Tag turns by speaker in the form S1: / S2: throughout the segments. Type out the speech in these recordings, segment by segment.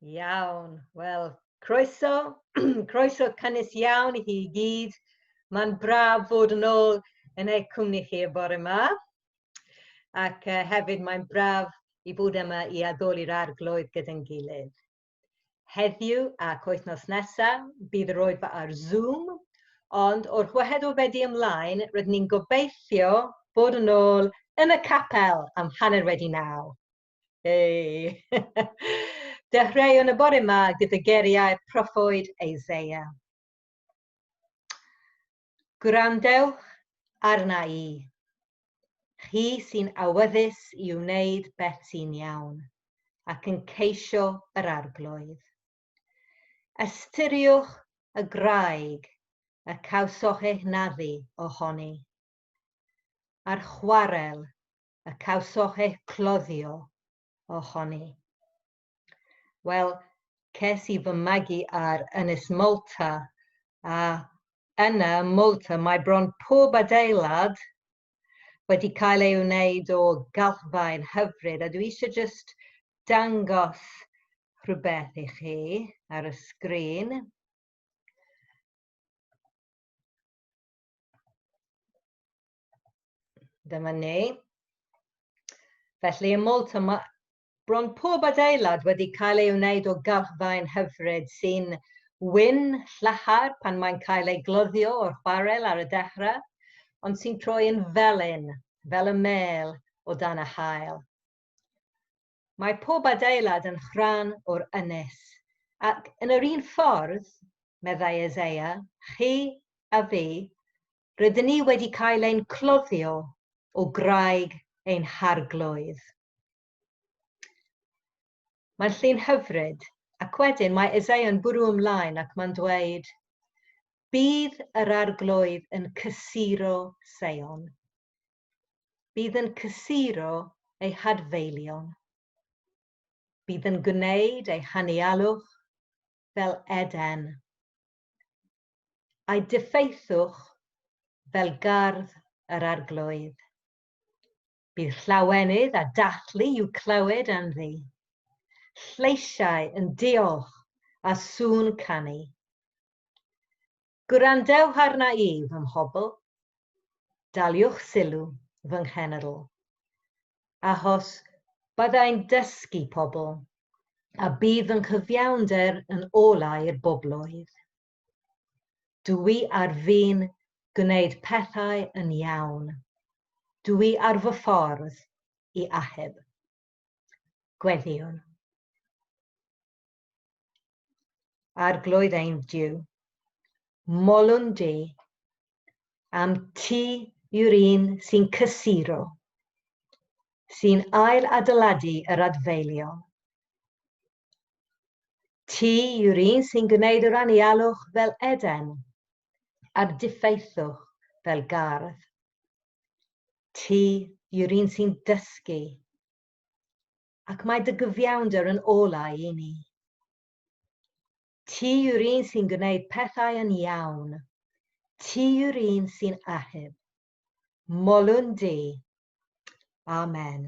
S1: Iawn, wel, croeso, croeso cynnes iawn i chi i gyd. Mae'n braf fod yn ôl yn eich cwmni chi y bore yma. Ac uh, hefyd mae'n braf i fod yma i addoli'r arglwydd gyda'n gilydd. Heddiw ac wythnos nesaf, bydd yr oedfa ar Zoom, ond o'r Hwyahed o Fedi ymlaen, rydyn ni'n gobeithio bod yn ôl yn y capel am hanner wedi naw. Hei! Dechreuwn y bore yma gyda geriau'r proffwyd Isaiah. Gwrandewch arna i. Chi sy'n awyddus i wneud beth sy'n iawn ac yn ceisio yr Arglwydd. Ystyriwch y graig y cawsoch'eich naddu ohoni, a'r chwarel y cawsoch'eich cloddio ohoni. Wel, ces i fy magu ar Ynys Malta, a yna ym Malta mae bron pob adeilad wedi cael ei wneud o galchfaen hyfryd, a dwi eisiau just dangos rhywbeth i chi ar y sgrin. Dyma ni. Felly ym Malta mae Bron pob adeilad wedi cael ei wneud o galchfaen hyfryd sy'n wyn llachar pan mae'n cael ei gloddio o'r chwarel ar y dechrau, ond sy'n troi yn felyn, fel y mêl, o dan y haul. Mae pob adeilad yn rhan o'r ynys, ac yn yr un ffordd, meddai Isaiah, chi a fi, rydyn ni wedi cael ein cloddio o graig ein harglwydd. Mae'n llun hyfryd, ac wedyn mae Isaiah yn bwrw ymlaen ac mae'n dweud, Bydd yr arglwydd yn cysuro Seion. Bydd yn cysuro ei hadfeilion. Bydd yn gwneud ei hanialwch fel Eden. A'i diffeithwch fel gardd yr arglwydd. Bydd llawenydd a dathlu i'w clywed anddi, lleisiau yn diolch a sŵn canu. Gwrandewch arna i, fy mhobl, daliwch sylw, fy nghenedl, achos byddai'n dysgu pobl, a bydd fy nghyfiawnder yn olau i'r bobloedd. Dw i ar fin gwneud pethau yn iawn. Dw i ar fy ffordd i achub. Gweddïwn. Arglwydd ein Duw, molwn di am ti yw'r un sy'n cysuro, sy'n ail adeiladu yr adfeilion. Ti yw'r un sy'n gwneud yr anialwch fel Eden, a'r diffeithwch fel gardd. Ti yw'r un sy'n dysgu ac mae dy gyfiawnder yn olau i ni. Ti yw'r un sy'n gwneud pethau yn iawn. Ti yw'r un sy'n ahub. Molwn di. Amen.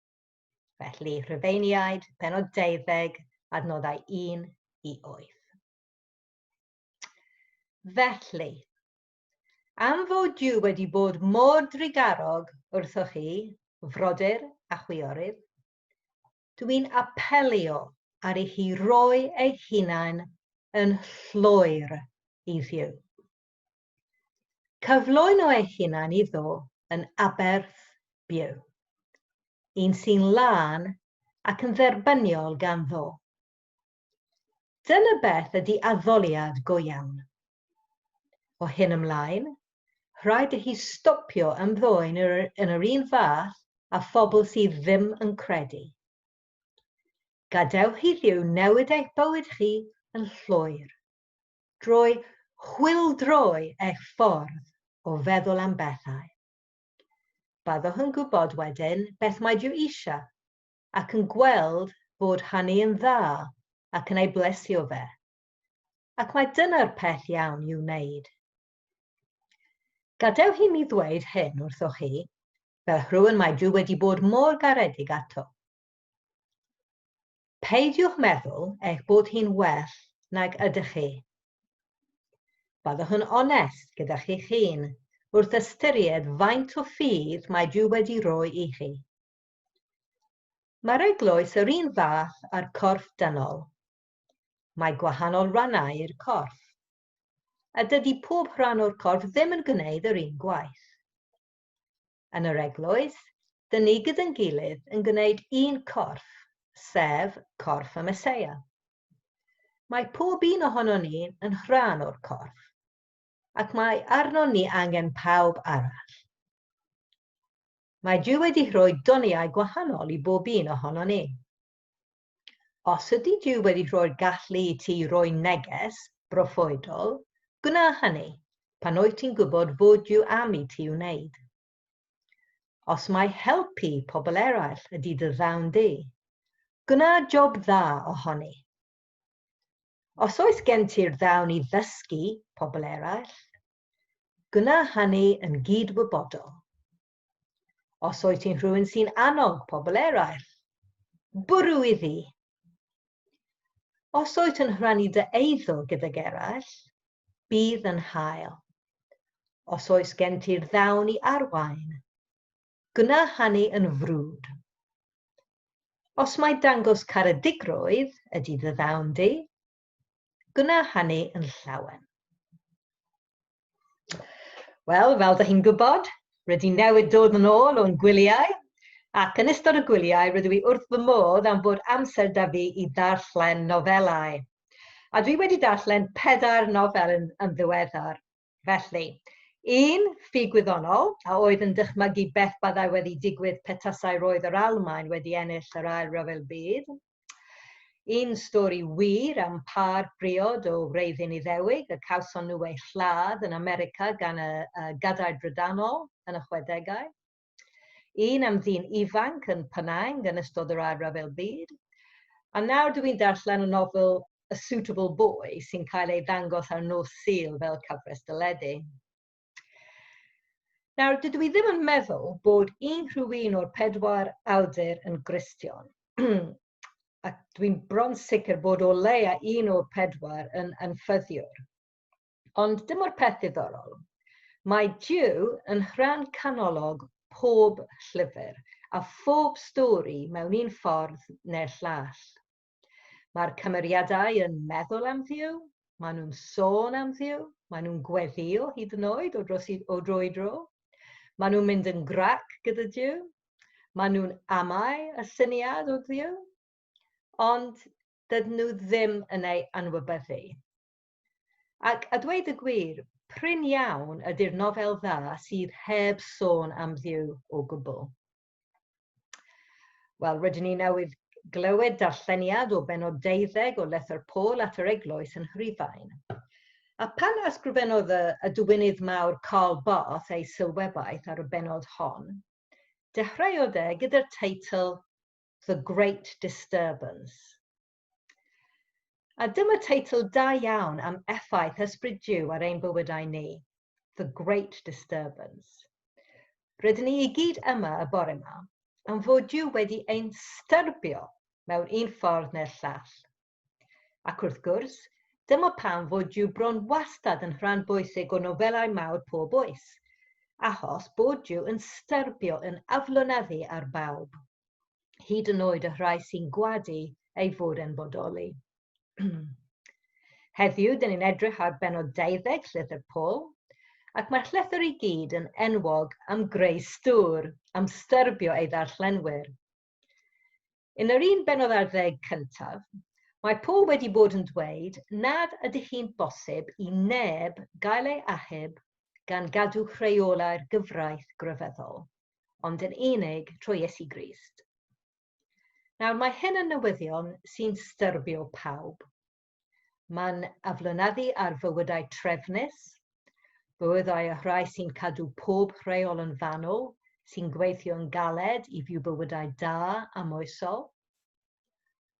S1: Felly, Rhufeiniaid, penod 12, adnoddau 1 i 8. Felly, am fod Duw wedi bod mor drugarog wrthoch chi, frodyr a chwiorydd, dwi'n apelio ar i chi roi ei hunain yn llwyr i Dduw. Cyflwyn o ei hunan iddo yn aberth byw, un sy'n lân ac yn dderbyniol ganddo. Dyna beth ydy addoliad go iawn. O hyn ymlaen, rhaid i hi stopio ymddwyn yn yr un fath â phobl sydd ddim yn credu. Gadewch i Dduw newid eich bywyd chi yn llwyr. drwy chwildroi eich ffordd o feddwl am bethau. Byddwch yn gwybod wedyn beth mae Duw eisiau ac yn gweld bod hynny yn dda ac yn ei blesio fe. Ac mae dyna'r peth iawn i'w wneud. Gadewch i mi ddweud hyn wrthoch chi, fel rhywun mae Duw wedi bod mor garedig ato. Peidiwch meddwl eich bod hi'n well nag ydych chi. Byddwch yn onest gyda chi'ch hun wrth ystyried faint o ffydd mae Duw wedi roi i chi. Mae'r eglwys yr un fath â'r corff dynol. Mae gwahanol rannau i'r corff a dydy pob rhan o'r corff ddim yn gwneud yr un gwaith. Yn yr Eglwys, dŷn ni gyda'n gilydd yn gwneud un corff, sef corff y Meseia. Mae pob un ohono ni yn rhan o'r corff, ac mae arnon ni angen pawb arall. Mae Duw wedi rhoi doniau gwahanol i bob un ohono ni. Os ydy Duw wedi rhoi'r gallu i ti roi neges broffwydol, gwna hynny, pan wyt ti'n gwybod fod Duw am i ti wneud. Os mai helpu pobl eraill ydy dy ddawn di, gwna job dda ohoni. Os oes gen ti'r ddawn i ddysgu pobl eraill, gwna hynny yn gyd-wybodol. Os wyt ti'n rhywun sy'n annog pobl eraill, bwrw iddi. Os wyt yn rhannu dy eiddo gydag eraill, bydd yn hael. Os oes gen ti'r ddawn i arwain, gwna hynny yn frwd. Os mai dangos caredigrwydd ydy dy ddawn di, Gwna hynny yn llawen. Wel, fel da chi'n gwybod, rydyn newid dod yn ôl o'n gwyliau, ac yn ystod y gwyliau rydw i wrth fy modd am bod amser da fi i ddarllen nofelau. A dwi wedi darllen pedair nofel yn, yn ddiweddar. Felly, un ffug gwyddonol, a oedd yn dychmygu beth byddai wedi digwydd petasai roedd yr Almaen wedi ennill yr Ail Ryfel Byd, un stori wir am pâr briod o wreiddyn Iddewig y cawson nhw eu lladd yn America gan y Gadair Brydanol yn y chwedegau, Un am ddyn ifanc yn Penang yn ystod yr Ail Ryfel Byd. A nawr dw i'n darllen y nofel A Suitable Boy sy'n cael ei ddangos ar nos Sul fel cyfres dyledu. Nawr, dydw i ddim yn meddwl bod unrhyw un o'r pedwar awdur yn Gristion. a dwi'n bron sicr bod o leia un o'r pedwar yn anffyddiwr. Ond dyma'r peth ddiddorol, mae Duw yn rhan canolog pob llyfr a phob stori mewn un ffordd neu'r llall. Mae'r cymeriadau yn meddwl am Dduw, maen nhw'n sôn am Dduw, maen nhw'n gweddïo hyd yn oed o dros i, o dro i dro. Maen nhw'n mynd yn grac gyda Duw, maen nhw'n amau y syniad o Dduw, ond dydyn nhw ddim yn ei anwybyddu. Ac, a dweud y gwir, prin iawn ydy'r nofel dda sydd heb sôn am Dduw o gwbl. Wel, rydyn ni newydd glywed darlleniad o benod deuddeg o Lethr Paul at yr Eglwys yn Rhufain. A pan ysgrifennodd y, y dywynydd mawr Karl Barth ei sylwebaeth ar y benod hon, dechreuodd e gyda'r teitl The Great Disturbance, A dyma teitl da iawn am effaith Ysbryd Duw ar ein bywydau ni, The Great Disturbance. Rydyn ni i gyd yma y bore yma am fod Duw wedi ein styrbio mewn un ffordd neu'r llall. Ac wrth gwrs, dyma pam fod Duw bron wastad yn rhan bwysig o nofelau mawr pob oes, achos bod Duw yn styrbio yn aflonyddu ar bawb. hyd yn oed y rhai sy'n gwadu ei fod yn bodoli. Heddiw, dyn ni'n edrych ar benod 12 Llythyr Paul, ac mae'r llythyr i gyd yn enwog am greu stŵr, am styrbio ei ddarllenwyr. Yn yr un benod ar ddeg cyntaf, mae Paul wedi bod yn dweud nad ydy hi'n bosib i neb gael ei achub gan gadw rheolau'r gyfraith grefyddol. ond yn unig trwy Iesu Grist. Nawr mae hyn yn newyddion sy'n styrbio pawb. Mae'n aflonyddu ar fywydau trefnus, bywydau y rhai sy'n cadw pob rheol yn fanwl, sy'n gweithio yn galed i fyw bywydau da a moesol.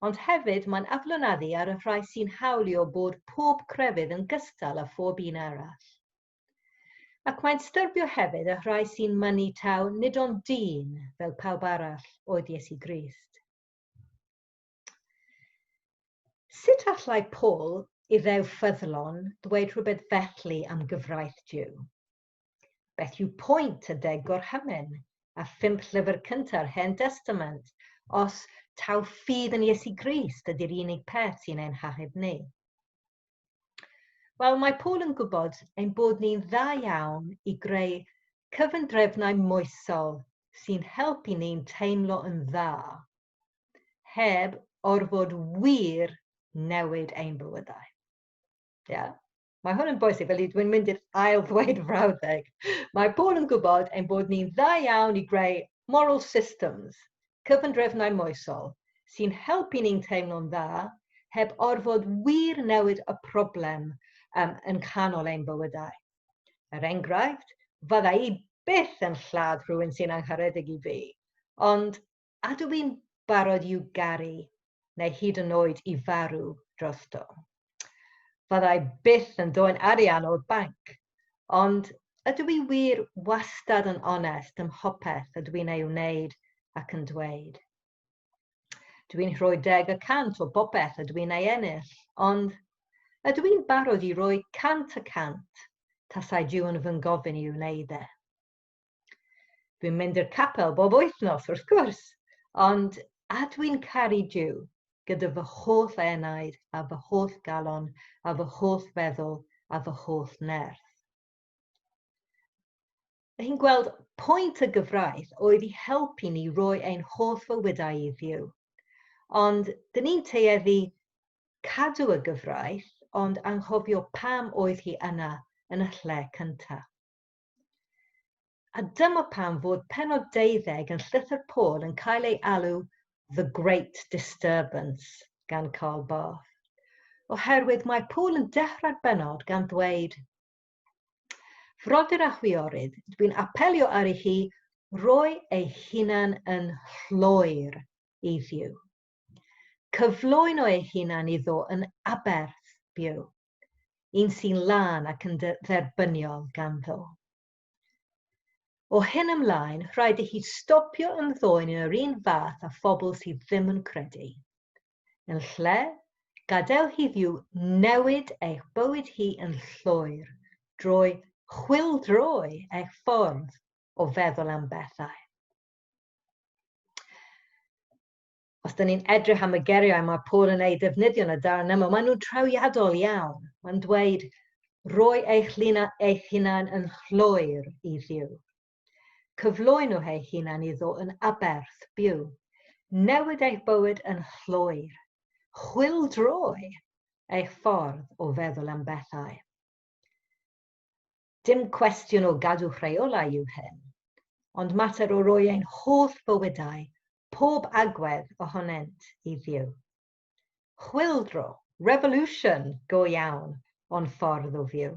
S1: Ond hefyd mae'n aflonyddu ar y rhai sy'n hawlio bod pob crefydd yn gystal â phob un arall. Ac mae'n styrbio hefyd y rhai sy'n mynnu taw nid ond dyn, fel pawb arall, oedd Iesu Grist. Sut allai Paul, Iddew ffyddlon, ddweud rhywbeth felly am gyfraith Duw? Beth yw pwynt y deg gorhymen a phump llyfr cynta'r Hen Destament os taw ffydd yn Iesu Grist ydy'r unig peth sy'n ein hachub ni? Wel, mae Paul yn gwybod ein bod ni'n dda iawn i greu cyfundrefnau moesol sy'n helpu ni'n teimlo yn dda, heb orfod wir newid ein bywydau. Ie? Yeah? Mae hwn yn bwysig, felly dwi'n mynd i'r ail ddweud frawddeg. Mae Paul yn gwybod ein bod ni'n dda iawn i greu moral systems, cyfundrefnau moesol, sy'n helpu ni'n teimlo'n dda heb orfod wir newid y problem um, yn canol ein bywydau. Er enghraifft, fydda i byth yn lladd rhywun sy'n angharedig i fi, ond a dw i'n barod i'w garu neu hyd yn oed i farw drosto. Fyddai byth yn dod arian o'r banc, ond ydw i wir wastad yn onest ym mhopeth ydw i'n ei wneud ac yn dweud. Dw i'n rhoi deg y cant o bopeth ydw i'n ei ennill, ond ydw i'n barod i roi cant y cant tasai Duw yn fy ngofyn i wneud e. Dwi'n mynd i'r capel bob wythnos, wrth gwrs, ond a dwi'n caru Duw gyda fy holl enaid a fy holl galon a fy holl feddwl a fy holl nerth. Mae hi'n gweld pwynt y gyfraith oedd i helpu ni roi ein holl fywydau i ddiw. Ond dyn ni'n teeddu cadw y gyfraith ond anghofio pam oedd hi yna yn y lle cyntaf. A dyma pam fod penod deuddeg yn Llythyr Paul yn cael ei alw The Great Disturbance gan Karl Barth. Oherwydd mae Paul yn dechrau'r benod gan ddweud Frodyr a chwiorydd, dwi'n apelio ar i chi roi ei hunan yn llwyr i ddiw. Cyflwyno ei hunan iddo yn aberth byw. un sy'n lân ac yn dderbyniol ganddo. O hyn ymlaen, rhaid i hi stopio ymddoen yn yr un fath a phobl sydd ddim yn credu. Yn lle, gadael hiddiw newid eich bywyd hi yn llwyr drwy chwildroi eich ffordd o feddwl am bethau. os dyn ni'n edrych am y geriau mae Paul yn eu defnyddio yn y darn yma, maen nhw'n trawiadol iawn. Mae'n dweud, roi eich linau eich hunain yn llwyr i Dduw. Cyflwyno eich hunain iddo yn aberth byw. Newid eich bywyd yn llwyr. Chwildroi eich ffordd o feddwl am bethau. Dim cwestiwn o gadw rheolau yw hyn, ond mater o roi ein holl bywydau pob agwedd ohonynt i Dduw. Chwyldro, revolution, go iawn, o'n ffordd o fyw.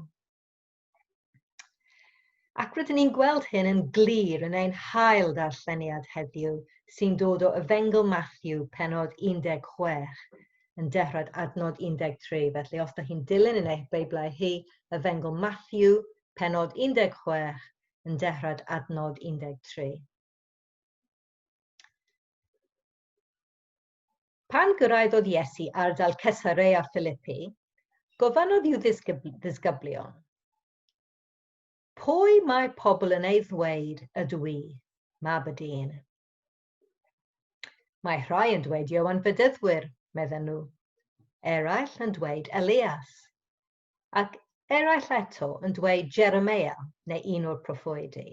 S1: Ac rydyn ni'n gweld hyn yn glir yn ein hail ddarlleniad heddiw sy'n dod o Efengl Matthew, penod 16, yn dehrad adnod 13. Felly, os da chi'n dilyn yn eich Beiblau hi, Efengl Matthew, penod 16, yn dehrad adnod 13. Pan gyrraeddodd Iesu ardal Cesarea Philippi, gofynnodd i'w ddisgyblion, Pwy mae pobl yn ei ddweud ydw i, mab y dyn? Mae rhai yn dweud Iowan Fedyddwyr, medden nhw, eraill yn dweud Elias, ac eraill eto yn dweud Jeremia neu un o'r proffwydi.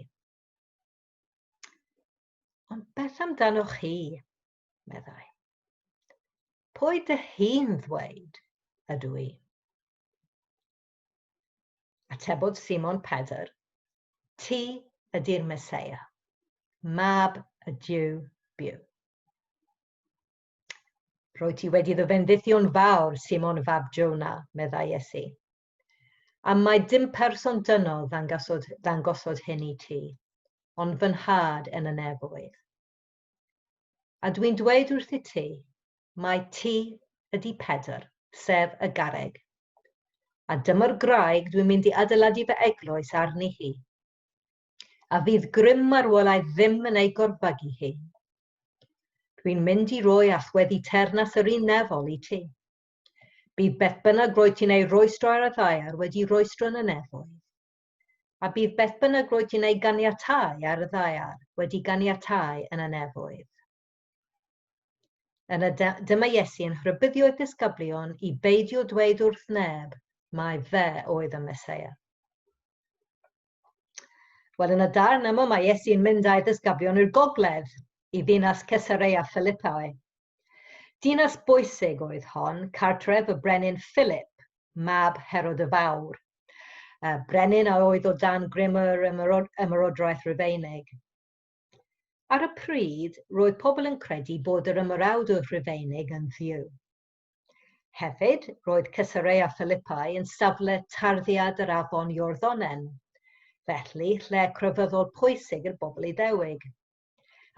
S1: Ond beth amdanoch chi? meddai. Pwy dy hi'n ddweud ydw i? Atebodd Simon Pedr, Ti ydy'r Meseia, mab y Dyw byw. Rwy ti wedi dy fendithio'n fawr, Simon fab Jona, meddai Iesu. Am mai dim person dynol ddangosod, ddangosod hyn i ti, ond fy nhad yn y nefoedd. A dwi'n dweud wrth i ti, mai ti ydy Pedr, sef y garreg. A dyma'r graig dwi'n mynd i adeiladu fy eglwys arni hi. A fydd grym marwolau ddim yn ei gorfagu hi. Dwi'n mynd i roi allweddi ternas yr un nefol i ti. Bydd beth bynnag roedd ti'n ei roestro ar y ddaear wedi roestro yn y nefoedd, a bydd beth bynnag roedd ti'n ei ganiatau ar y ddaear wedi ganiatau yn y nefoedd. Yna dyma Iesu yn rhybuddio ei disgyblion i beidio dweud wrth neb mai fe oedd y Mesoea. Wel, yn y darn yma mae Iesu'n mynd â'i ddysgablion i'r gogledd, i ddinas Caesarea Philippi. Dinas bwysig oedd hon, cartref y brenin Philip, mab Herod y Fawr. Y brenin a oedd o dan grym yr ymerodraeth Rufeinig. Ar y pryd, roedd pobl yn credu bod yr ymyrawd o Rufeinig yn ddiw. Hefyd, roedd Cesarea Philippi yn safle tarddiad yr afon Iorddonen, felly lle crefyddol pwysig i'r bobl Iddewig.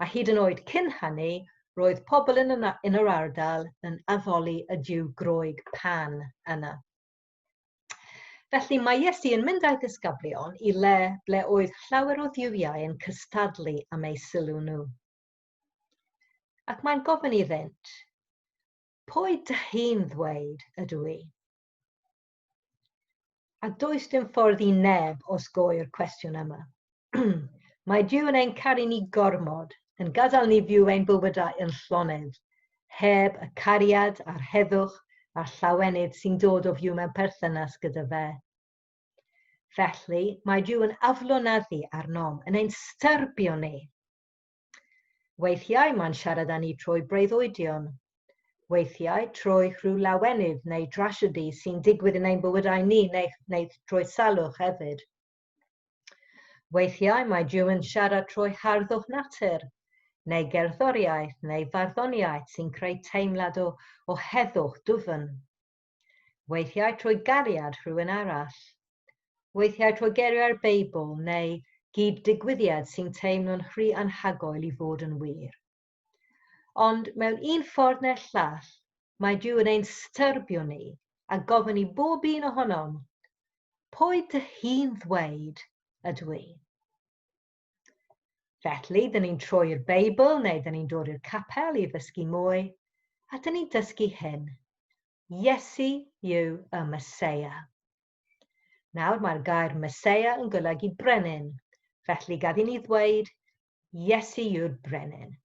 S1: A hyd yn oed cyn hynny, roedd pobl yn, yna, yn yr ardal yn addoli y diw groeg pan yna. Felly mae Iesu yn mynd â'i ddisgyblion i le ble oedd llawer o dduwiau yn cystadlu am eu sylw nhw. Ac mae'n gofyn iddynt, Pwy dych chi'n ddweud ydw i? A does dim ffordd i neb osgoi'r cwestiwn yma. Mae Dyw yn ein caru ni gormod, yn gadael ni fyw ein bywydau yn llonydd, heb y cariad a'r heddwch a'r llawenydd sy'n dod o fyw mewn perthynas gyda fe. Felly, mae Dyw yn aflonyddu arnom, yn ein styrbio ni. Weithiau mae'n siarad â ni trwy breuddwydion. Weithiau trwy rhyw lawenydd neu drasiedi sy'n digwydd yn ein bywydau ni neu, neu trwy salwch hefyd. Weithiau mae Duw yn siarad trwy harddwch natur, neu gerddoriaeth neu farddoniaeth sy'n creu teimlad o, o heddwch dwfn. Weithiau trwy gariad rhywun arall. Weithiau trwy geiriau'r Beibl neu gyd-digwyddiad sy'n teimlo'n rhy anhygoel i fod yn wir. Ond mewn un ffordd neu'r llall, mae Duw yn ein styrbio ni a gofyn i bob un ohonom, Pwy dych chi'n ddweud ydw i? Felly, dyn ni'n troi'r Beibl neu dyn ni'n dod i'r capel i ddysgu mwy, a dyn ni'n dysgu hyn. Iesu yw y Mesoea. Nawr mae'r gair Mesoea yn golygu brenin, felly gaf i ni ddweud Iesu yw'r brenin.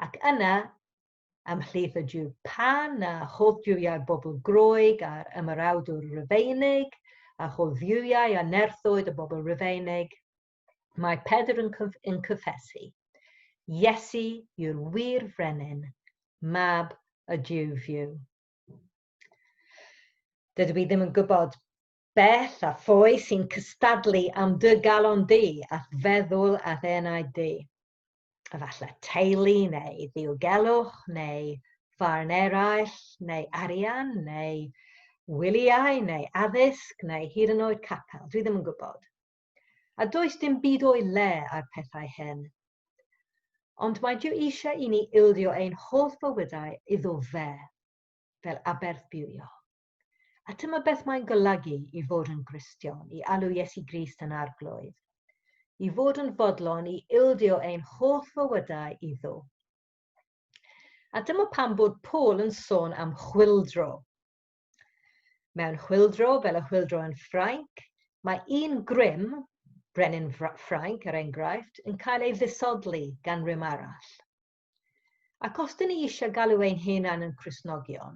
S1: Ac yna, ymhlith y Jiw Pan a holl Jiwiau'r bobl Groeg a'r Ymerawdwr Rufeinig, a holl Dduwiau a nerthoedd y bobl Rufeinig, mae Pedr yn, cyf yn cyffesu, Iesu yw'r wir frenin, mab y Jiw fyw. Dydw i ddim yn gwybod bell a ffoi sy'n cystadlu am dy galon di a'th feddwl a'th enaid di. efallai teulu neu ddiogelwch neu farn eraill neu arian neu wyliau neu addysg neu hyd yn oed capel, dwi ddim yn gwybod. A does dim byd o'i le ar pethau hyn. Ond mae Dyw eisiau i ni ildio ein holl fywydau iddo fe, fel aberthbywio. A tyma beth mae'n golygu i fod yn Gristion, i alw Iesu Grist yn arglwydd, i fod yn fodlon i ildio ein holl fywydau iddo. A dyma pam bod Paul yn sôn am chwildro. Mewn chwildro, fel y chwildro yn Ffrainc, mae un grym, brenin Ffrainc er enghraifft, yn cael ei ddisodli gan rym arall. Ac os dyn ni eisiau galw ein hunan yn Christnogion,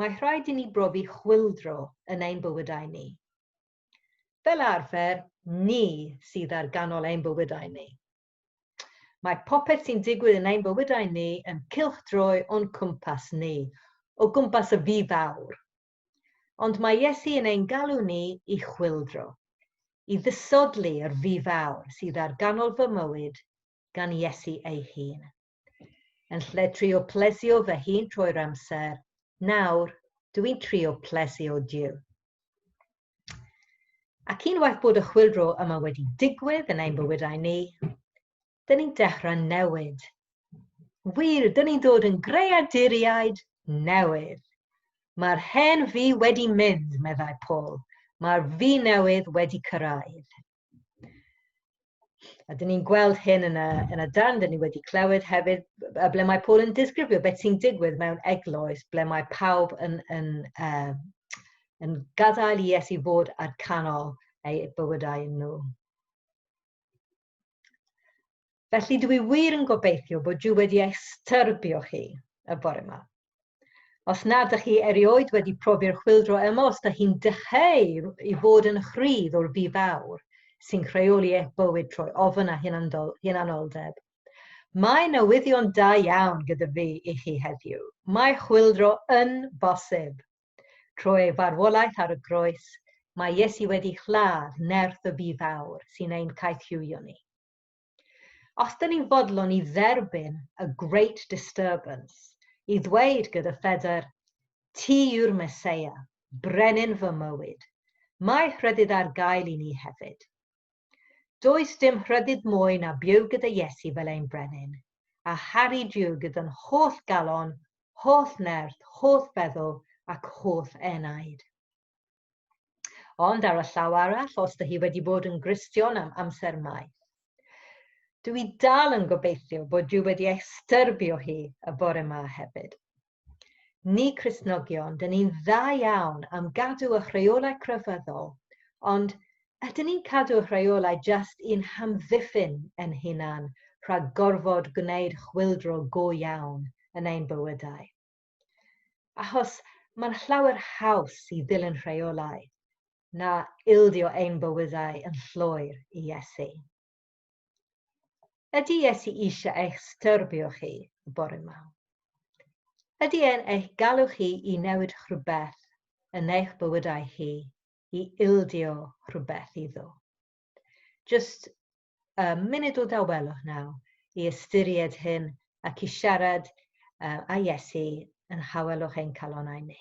S1: mae rhaid i ni brofi chwildro yn ein bywydau ni. Fel arfer, ni sydd ar ganol ein bywydau ni. Mae popeth sy'n digwydd yn ein bywydau ni yn cylchdroi o'n cwmpas ni, o gwmpas y fi fawr. Ond mae Iesu yn ein galw ni i chwildro, i ddisodli yr fi fawr sydd ar ganol fy mywyd gan Iesu ei hun. Yn lle trio plesio fy hun trwy'r amser, nawr dw i'n trio plesio Duw. Ac unwaith bod y chwildro yma wedi digwydd yn ein bywydau ni, dyn ni'n dechrau newid. Wir, dyn ni'n dod yn greaduriaid newydd. Mae'r hen fi wedi mynd, meddai Paul. Mae'r fi newydd wedi cyrraedd. A dyn ni'n gweld hyn yn y, yn y dan, dyn ni wedi clywed hefyd y ble mae Paul yn disgrifio beth sy'n digwydd mewn eglwys ble mae pawb yn, yn, uh, yn gadael i Iesu fod ar canol ei bywydau nhw. Felly dwi wir yn gobeithio bod Duw wedi eich styrbio chi y bore yma. Os nad ydych chi erioed wedi profi'r chwildro yma, os ydych chi'n dycheu i fod yn chrydd o'r bu fawr sy'n rheoli eich bywyd trwy ofn a hunanoldeb, mae newyddion da iawn gyda fi i chi heddiw. Mae chwildro yn bosib. Trwy ei farwolaeth ar y groes, mae Iesu wedi lladd nerth y bu fawr sy'n ein caethiwio ni. Os dyn ni'n fodlon i dderbyn y Great Disturbance, i ddweud gyda phedr, Ti yw'r Meseia, Brenin fy mywyd, mae rhyddid ar gael i ni hefyd. Does dim rhyddid mwy na byw gyda Iesu fel ein Brenin, a charu Duw gyda'n holl galon, holl nerth, holl feddwl ac holl enaid. Ond ar y llaw arall, os dy hi wedi bod yn Gristion am amser maith. Dw i dal yn gobeithio bod Duw wedi ei styrbio hi y bore ma hefyd. Ni Christnogion, dyn ni'n dda iawn am gadw y rheolau crefyddol, ond ydyn ni'n cadw y rheolau just i'n hamddiffyn yn hunan rhag gorfod gwneud chwildro go iawn yn ein bywydau? Achos mae'n llawer haws i ddilyn rheolau na ildio ein bywydau yn llwyr i Iesu. Ydy Iesu eisiau eich styrbio chi y bore yma? Ydy e'n eich galw chi i newid rhywbeth yn eich bywydau chi i ildio rhywbeth iddo? Just uh, munud o dawelwch naw i ystyried hyn ac i siarad uh, a Iesu yn hawelwch ein calonau ni.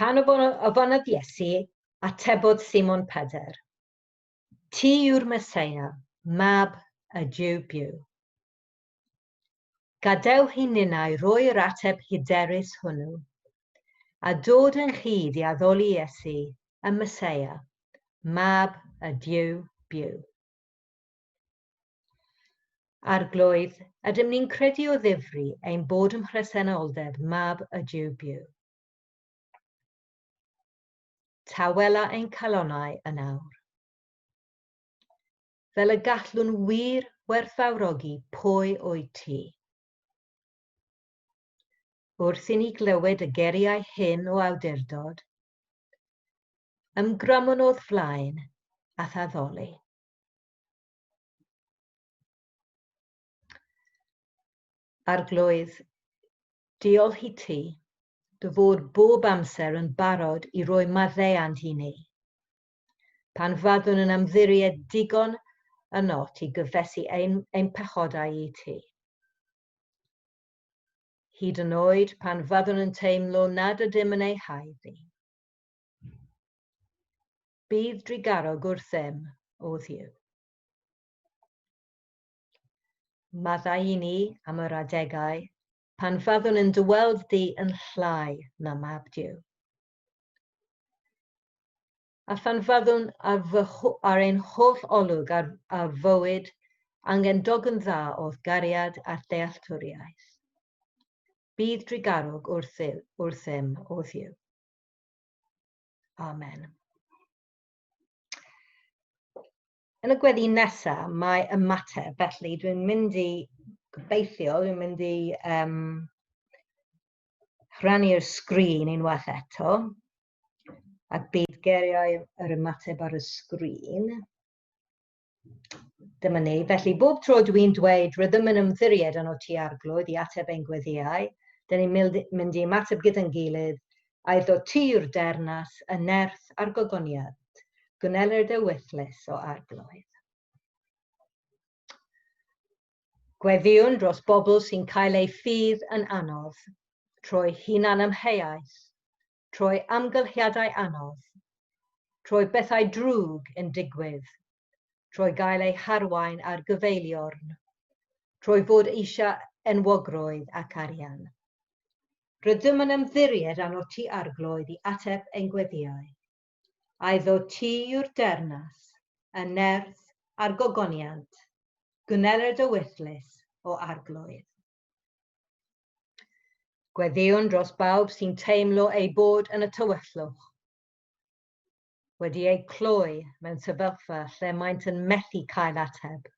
S1: Pan ofynnodd Iesu, atebodd Simon Pedr, Ti yw'r Meseia, mab y Jiw byw. Gadewch i ninnau roi'r ateb hyderus hwnnw, a dod ynghyd i addoli Iesu, y Meseia, mab y Jiw byw. Arglwydd, ydym ni'n credu o ddifri ein bod ym mhresenoldeb mab y Duw byw. Tawela ein calonau yn awr. Fel y gallwn wir werthfawrogi pwy o'i ti. Wrth i ni glywed y geriau hyn o awdurdod, ymgrymwn o'th flaen a'th addoli. Arglwydd, diolch i ti, dy fod bob amser yn barod i roi maddeuant i ni. Pan fyddwn yn ymddiried digon ynot i gyfesu ein, ein pechodau i ti. Hyd yn oed pan fyddwn yn teimlo nad ydym yn ei haeddu. Bydd drugarog wrth ddim, O Dduw. Maddau i ni am yr adegau pan fyddwn yn dyweld di yn llai na mab Duw. A phan fyddwn ar, fy, ar ein holl olwg ar, ar fywyd angen dogyn dda o gariad a dealltwriaeth. Bydd drugarwg wrth, wrth ddim o ddiw. Amen. Yn y gweddi nesaf, mae ymateb. Felly, dwi'n mynd i gobeithio, dwi'n mynd i um, rhannu'r sgrin unwaith eto. A bydd geriau yr ymateb ar y sgrin. Dyma ni. Felly, bob tro dw i'n dweud rydym yn ymddiried yn OT Arglwydd i ateb ein gweddiau, dyn ni'n mynd i ymateb gyda'n gilydd, a iddo ti yw'r dernas, y nerth a'r gogoniant. Gwneled y wythles o Arglwydd. Gweddïwn dros bobl sy'n cael eu ffydd yn anodd, trwy hunan ymheaeth, trwy amgylchiadau anodd, trwy bethau drwg yn digwydd, trwy gael ei harwain ar gyfeiliorn, trwy fod eisiau enwogrwydd ac arian. Rydym yn ymddiried arno ti Arglwydd i ateb ein gweddïau. Aiddo ti yw'r dernas, y nerth a'r gogoniant, gwneled y wythlys, o Arglwydd. Gweddïwn dros bawb sy'n teimlo eu bod yn y tywyllwch, wedi eu cloi mewn sefyllfa lle maent yn methu cael ateb.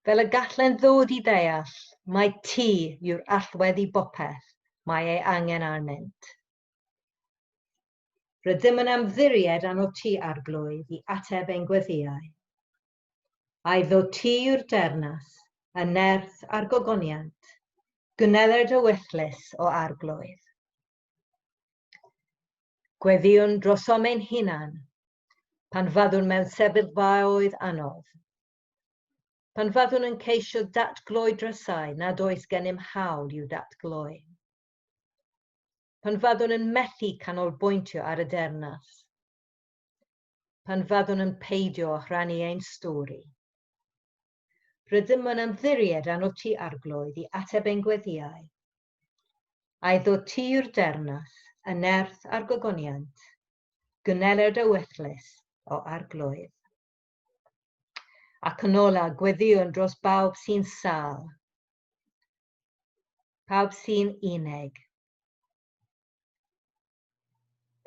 S1: Fel y gallen ddod i ddeall, mae ti yw'r allwedd i bopeth mae ei angen arnynt. Rydym yn ymddiried arno ti, Arglwydd, i ateb ein gweddïau. A'i ddo ti yw'r dernas, y nerth a'r gogoniant, gwneled o wellus o arglwydd. Gweddïwn drosom ein hunan, pan faddwn mewn sefyllfaoedd anodd, pan faddwn yn ceisio datgloi drysau nad oes gennym hawl i'w datgloi, pan faddwn yn methu canolbwyntio ar y dernas, pan fyddwn yn peidio â rhannu ein stori. Rydym yn ymddiried arno ti arglwydd i ateb ein gweddiau. A'i ddod ti i'r dernath, y nerth a'r gogoniant, gynneler dy wethlys o arglwydd. Ac yn ola, gweddiwn dros bawb sy'n sal, pawb sy'n unig,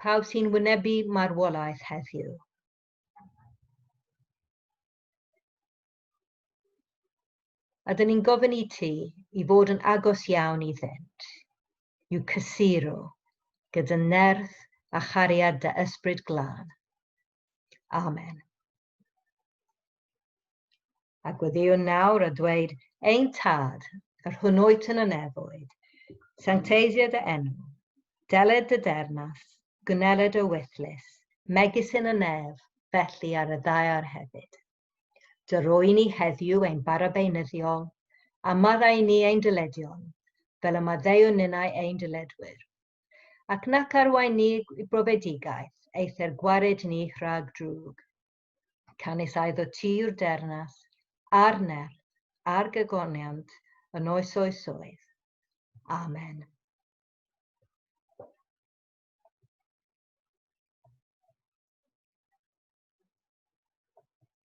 S1: Pawb sy'n wynebu marwolaeth heddiw. A dyn ni'n gofyn i ti i fod yn agos iawn i ddynt, i'w cysuro gyda nerth a chariad dy ysbryd glân. Amen. A gweddïwn nawr a dweud, Ein Tad, yr hwn oet yn y nefoedd, sancteisied y enw, deled dy dernas, gwneled y wythlus, megis yn y nef, felly ar y ddaear hefyd. Dy roi ni heddiw ein barabeinyddiol, a maddau ni ein dyledion, fel y maddeuwn ninnau ein dyledwyr, ac nac arwain ni i brofedigaeth, eithr gwared ni rhag drwg. Canys aedd o ti yw'r dernas, a'r nerth, a'r gagoniant, yn oes oesoedd. Amen.